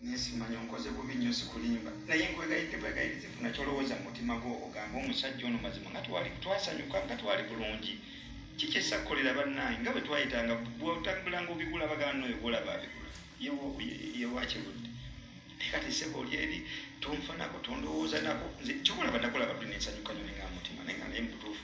naye simanyi onkoze bubi nnyo sikulimba naye nkwegayidde bwegayirizi funa kyolowooza mu mutima gwo ogamba omusajja ono mazima nga twali twasanyuka nga twali bulungi kikyesa kukolera bannange nga bwe twayitanga bwotambulanga obigula bagana noyo golaba abigula yewakirudde naye kati sebo oli eri tonfanako tondowooza nako nze kyokulaba nakulaba dde nensanyuka nyo nenga mutima naye nga naye mubutuufu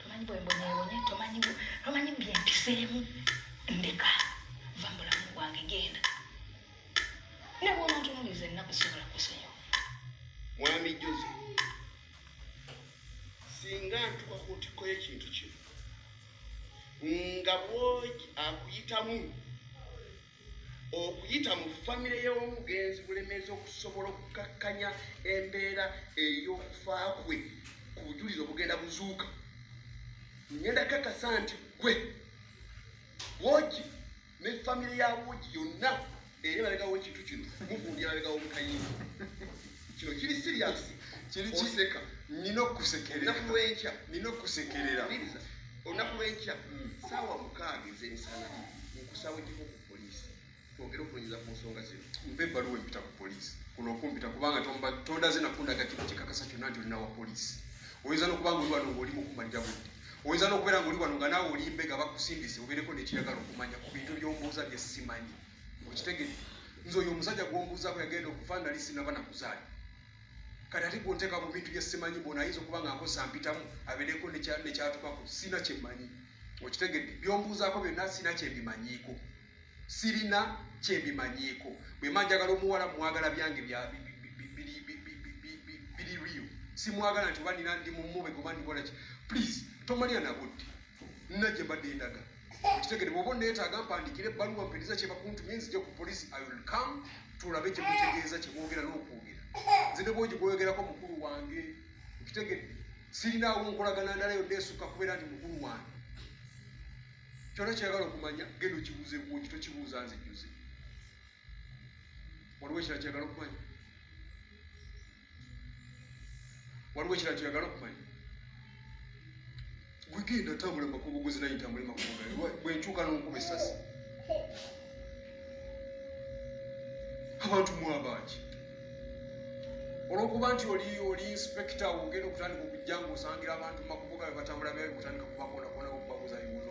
tomanyi bwembonyebonye tomanyi tomanyi byempiseemu ndeka va mubulamu bwange genda ne bwonontunuliza ennaku sobola kusonyiwa mwami joze singa ntuka ku ntikko y'ekintu kino nga bwogi akuyitamu okuyita mu famire y'omugenzi bulemezi okusobola okukakkanya embeera ey'okufa kwe ku bujulizi obugenda buzuuka ngenda kakasa nti gwe wogi ne famire ya wogi yonna eri balegawo ekintu kino muvundira balegawo mukayingo kino kiri serious kiri kiseka nina okusekerera olunaku lwenkya nina okusekerera olunaku lwenkya hmm. saawa mukaaga ezemisana nkusaba ojjeko ku poliisi twogere okunyuza ku nsonga zino mpa ebbaluwa empita ku poliisi kuno okumpita kubanga tondaze nakundaga kino kikakasa kyonna nti olinawa poliisi oyinza nokuba nga oli wano ngaoli mukumalira budde oyinza nokubeera nga oli wano nga naawe oli mbega bakusindise obeereko nekiyagala okumanya ku bintu byombuuza byesimanyi okitegere nze oyo omusajja gwombuuzako yagenda okufa nali sinaba nakuzaali kati ate gwonteeka mu bintu byesimanyi bona ayinza okuba nga nkosa mpitamu abeereko nekyatukako sina kyemmanyi okitegedde byombuuzaako byonna sina kyembimanyiiko sirina kyembimanyiiko bwema njagala omuwala mwagala byange biri rio simwagala nti oba nina ndi mumube goba ndikolaki please tomalira nabudde nina gye mbadde ndaga kitegere bwoba onneetaaga mpandiikira ebbaluwa mpeereza kye bakuntumye nzija ku poliisi i will come tulabe kye mutegeeza kye boogera n'okwogera nze ne bwogi gwoyogerako mukulu wange okitegedde sirinaawo nkolagana ndala yonna esukka kubeera nti mukulu wange kyona kyagala okumanya genda okibuuza ebuugi tokibuuza nze juze waliwo ekira kyagala okumanya waliwo ekirala kyoyagala okumanya gwegenda tambula makubo gwezinayitambule makubo bwenkyuka nonkuba esasi abantu mwabangi olwokuba nti oli oli inspekita ogenda okutandika okujja nga osangira abantu makubo gabe batambula byayo kutandika kubakonakona okubabuza bibuuzo